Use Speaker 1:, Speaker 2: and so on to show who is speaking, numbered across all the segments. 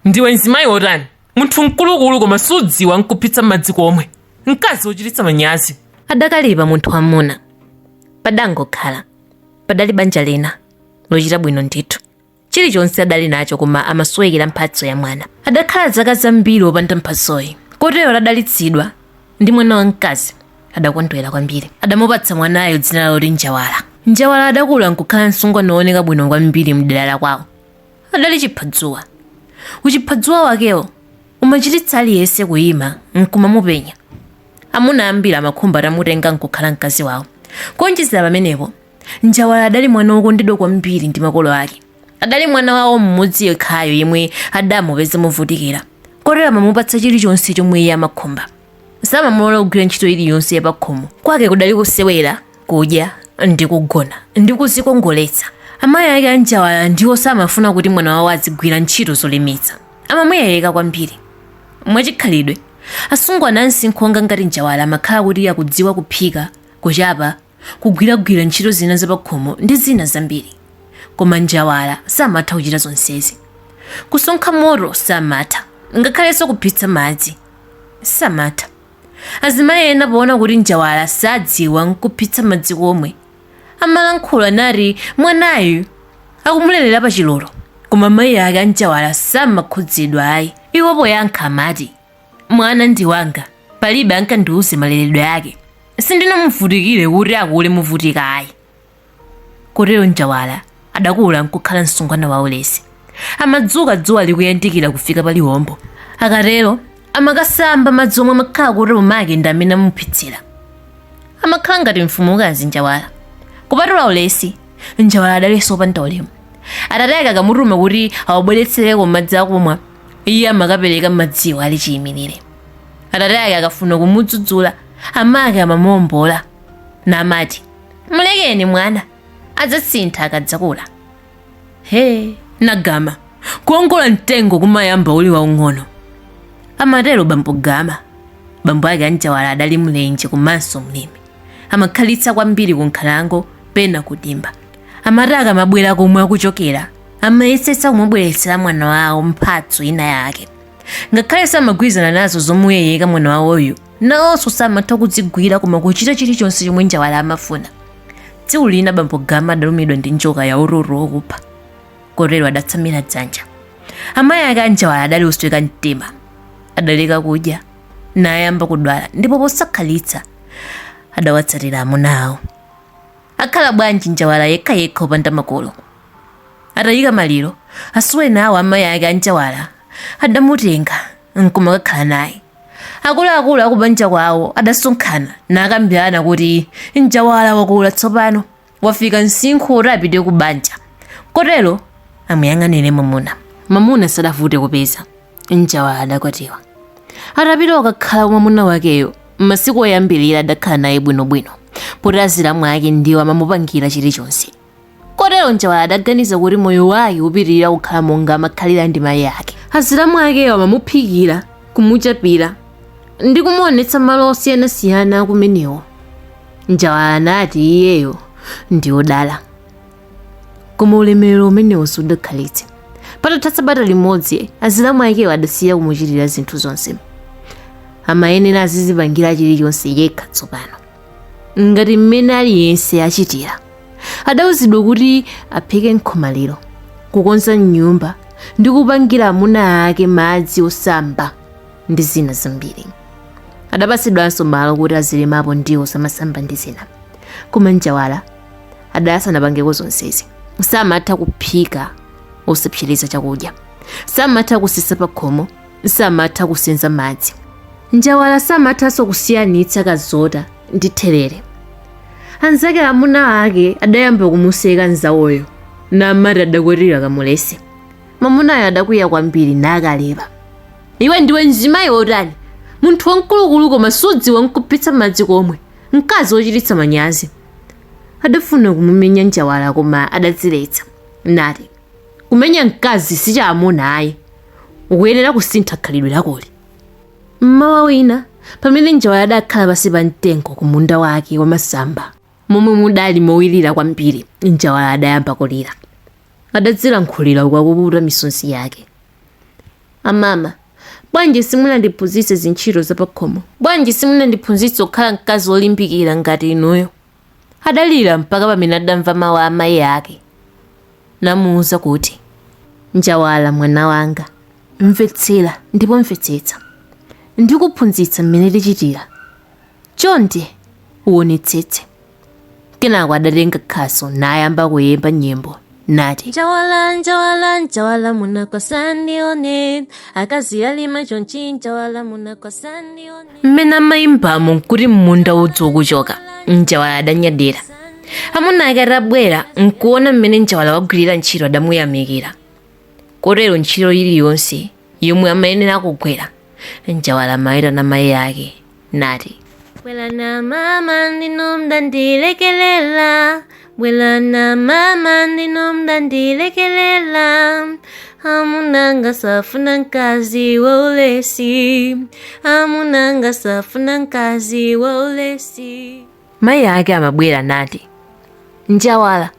Speaker 1: ndiwe mzimayi wotani munthu mkulukulu koma sudziwa nkuphitsa madzi komwe mkazi wochititsa manyazi adakalipa munthu
Speaker 2: wamuna padangokhala padali banja lina lochita bwino ndithu chilichonse adali nacho koma amasowekera mphatso ya mwana adakhala zaka zambiri opanda mphatsoyi kotero atadalitsidwa ndi mwana wamkazi adakondwera kwambiri adamupatsa mwanayo dzina loti njawala njawala adakula nkukhala msungwana wooneka bwino kwambiri mdera la kwawo adali chiphadzuwa. Uchiphadzuwa wakewo umachititsa aliyense kuyima n'kumamupenya. Amuna ambiri amakhumba atamutenga n'kukhala mkazi wawo. Kuonjezera pamenepo, Njawala adali mwana wokondedwa kwambiri ndi makolo ake. Adali mwana wawo mmodzi yekhayo yemwe adamupeza movutikira, kotero amamupatsa chilichonse chomwe iye amakhumba. samamulola kugwira ntchito iliyonse yapakhomo kwake kudali kusewera kudya ndi kugona ndi kuzikongoletsa amayi ake anjawala ndiwo samafuna kuti mwana wawo azigwira ntchito zolemetsa amamuyeyeka kwambiri mwachikhalidwe asungwana ansinkhu onga ngati njawala amakhala kuti akudziwa kuphika kuchapa kugwiragwira ntchito zina zapakhomo ndi zina zambiri. Koma njawala samatha kuchita zonsezi. Kusonkha moto samatha, ngakhalenso kuphitsa madzi samatha. Azimayi ena poona kuti njawala sadziwa n'kuphitsa madzi komwe, amalankhula nati mwanayu akumulelera pachilolo. Koma mayi ake a njawala samakhudzidwa ayi. Iwo poyankha amati, Mwana ndi wanga, palibe ankandiuze maleredwe ake. Sindinamuvutikire kuti akule muvutika ayi. Kotero Njawala adakula nkukhala msungwana waulesi. Amadzuka dzuwa likuyandikira kufika pa liwombo. Akatero amakasamba madzi omwe amakhala kuti mamake ndi amene amuphitsira. Amakhala ngati mfumukazi Njawala. Kupatula ulesi, Njawala adalinso opanda ulemu. Atate ake akamutuma kuti awabweretsereko madzi akumwa, iye amakapereka madziwo ali chiyimirire atate ake akafuna kumudzudzula amake amamuombola namati mlekeni mwana adzasintha akadzakula he nagama kuongola mtengo kumayamba uli waung'ono amatero bambo gama bambo ake anjawala adali mlenje komanso mlimi amakhalitsa kwambiri ku nkhalango pena kudimba amati akamabwera komwe akuchokera amayesetsa kumubweretsera mwana wawo mphatso ina yake ngakhale samagwirizana nazo zomuyeyeka mwana wawoyu nawonso samatha kuzigwira koma kuchita chilichonse chomwe njawala amafuna tsiku lina bambo gama adalumidwa ndi njoka ya ururu wokupha kotero adatsamira dzanja amayi ake anjawala adali osweka mtima adaleka kudya nayamba kudwala ndipo posakhalitsa adawatsatira amuna awo akhala bwanji njawala yekhayekha opanda makolo Atayika maliro, asuweni awo a mayi ake a Njawala adamutenga n'kumakakhala naye. Akuluakulu a kubanja kwawo adasonkhana nakambirana kuti Njawala wakula tsopano, wafika msinkhu woti apite kubanja kotero amuyang'anire mwamuna. Mamuna sadavute kupeza. Njawala adakwatiwa. Atapita kukakhala kwa mwamuna wakeyo, masiku oyambirira adakhala naye bwinobwino poti azilamu ake ndiwo amamupangira chilichonse. kotero njawala adaganiza kuti moyo wake upitirira kukhala monga amakhalira ndi mayi ake azilamu akewo amamuphikira kumuchapira ndi kumuonetsa malo osiyanasiyana akumenewo njawala anati iyeyo ndi odala koma ulemerero umenewo sudakhalitse patatha sabata limodzi azilamu akewo adasiya kumuchitira zinthu zonse amayenera azizipangira chilichonse yekha tsopano ngati mmene aliyense achitira adauzidwa kuti aphike nkhomaliro kukonza nyumba ndi kupangira amuna ake madzi osamba ndi zina zambiri adapatsidwanso malo kuti azilimapo ndiwo zamasamba ndi zina koma njawala adasanapangeko zonsezi samatha kuphika osapsereza chakudya samatha kusesa pakhomo samatha kusenza madzi njawala samathanso kusiyanitsa kazota ndi therere anzake amuna ake adayamba kumuseka nzawoyo namati adakwatira kamulesi mamunayo adakwiya kwambiri nakalipa iwe ndiwe mzimayi wotani munthu wamkulukulu koma sudziwa nkuphitsa madzi komwe mkazi wochititsa manyazi adafuna kumumenya njawala koma adadziletsa nati Kumenya mkazi si chamuna ayi. Ukuyenera kusintha khalidwe lakoli. M'mawa wina, pamene Njawala adakhala pansi pa mtengo ku munda wake wa masamba, momwe mudali mowirira kwambiri, Njawala adayamba kulira. Adadzilankhulira uku akupukuta misonzi yake. Amama, bwanji simunandiphunzitse zintchito zapakhomo? Bwanji simunandiphunzitse kukhala mkazi wolimbikira ngati inuyo? Adalira mpaka pamene adamva mawu a amayi ake namuwuza kuti, Njawala mwana wanga, mvetsera ndipo mvetsetsa. Ndikuphunzitsa mmene tichitira. Chonde uwonetsetse. Kenako adatenga khasu nayamba kuyimba nyimbo nati njawala njawala njawala munakwasa ndione akazi alima chonchi njawala munakwasa ndione mmene amayimbamo nkuti mmunda udzu ukuchoka njawala adanyadira amuna ake atabwera nkuona mmene njawala wagwirira ntchito adamuyamikira kotero ntchito iliyonse yomwe amayenera kugwira njawala amayitana mayi ake nati bwelani amama ndinu mdandilekelela bwelani amama ndinu mdandilekelela amunanga safuna mkazi wa ulesi amunanga safuna mkazi wa ulesi mayi ake amabwera nati njawala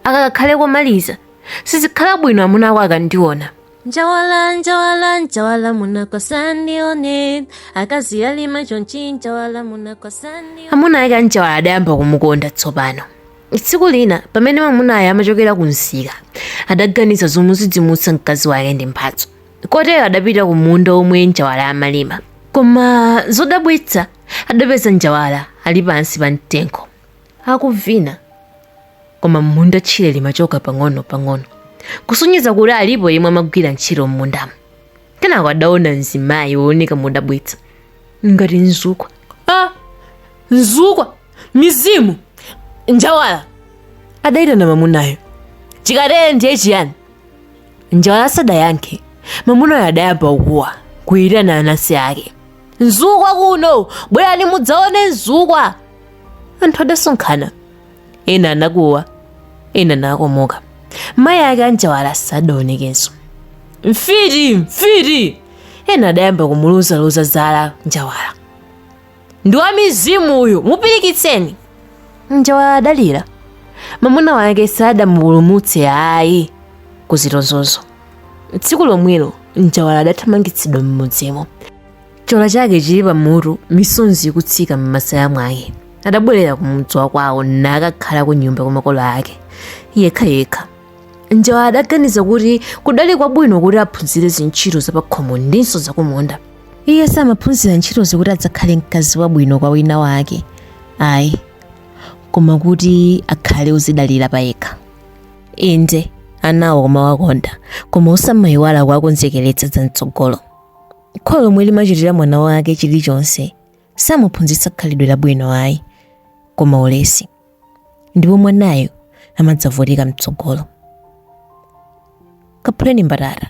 Speaker 2: aka kakhale komaliza sizikhala bwino amuna ako akandiona njawala njawala njawala munako asandione akazi alima chonchi njawala munako asandione amuna ake anjawala adayamba kumukonda tsopano tsiku lina pamene mamunayo amachokera ku msika adaganiza zomudzidzimutsa mkazi wake ndi mphatso kotero adapita ku munda omwe njawala amalima koma zodabwitsa adapeza njawala ali pansi pa mtengo akuvina. Koma m'munda tchire limachoka pang'onopang'ono, kusonyeza kuti alipo yemwe amagwira ntchito m'mundamo. Kenako adaona mzimayi wooneka modabwitsa ngati mzukwa. a
Speaker 1: mzukwa mizimu njawala adayitana mamunayo chikatere ndiye chiyani njawala
Speaker 2: sadayankhe mamunayo adayamba kukuwa kuyitana anansi ake mzukwa
Speaker 1: kuno bwerani mudzaone mzukwa
Speaker 2: anthu adasonkhana ena anakuwa ena nakomoka mayi ake anjawala sadaonekenso mfiti
Speaker 1: mfiti ena adayamba
Speaker 2: kumulozaloza zala njawala
Speaker 1: ndi wa mizimu uyu mupirikitseni
Speaker 2: njawala adalira mamuna wake sadamupulumutse ayi kuzitonzozo tsiku lomwelo njawala adathamangitsidwa m'mudzimo chola chake chili pamutu misonzi ikutsika m'masaya mwake adabwerera kumudzi wakwawo nakakhala ku nyumba kwa makolo ake yekhayekha njawala adaganiza kuti kudali kwabwino kuti aphunzire zintchito zapakhomo ndinso zakumunda iye samaphunzira ntchitozo kuti adzakhale mkazi wabwino kwa wina wake ayi koma kuti akhale odzidalira pa yekha inde anawo kumawakonda koma osamayiwala kuwakonzekeretsa za mtsogolo Kholo lomwe limachitira mwana wake chilichonse samuphunzitsa khalidwe labwino ayi koma ulesi ndipo mwanayo amadzavutika mtsogolo kaphuleni mbatata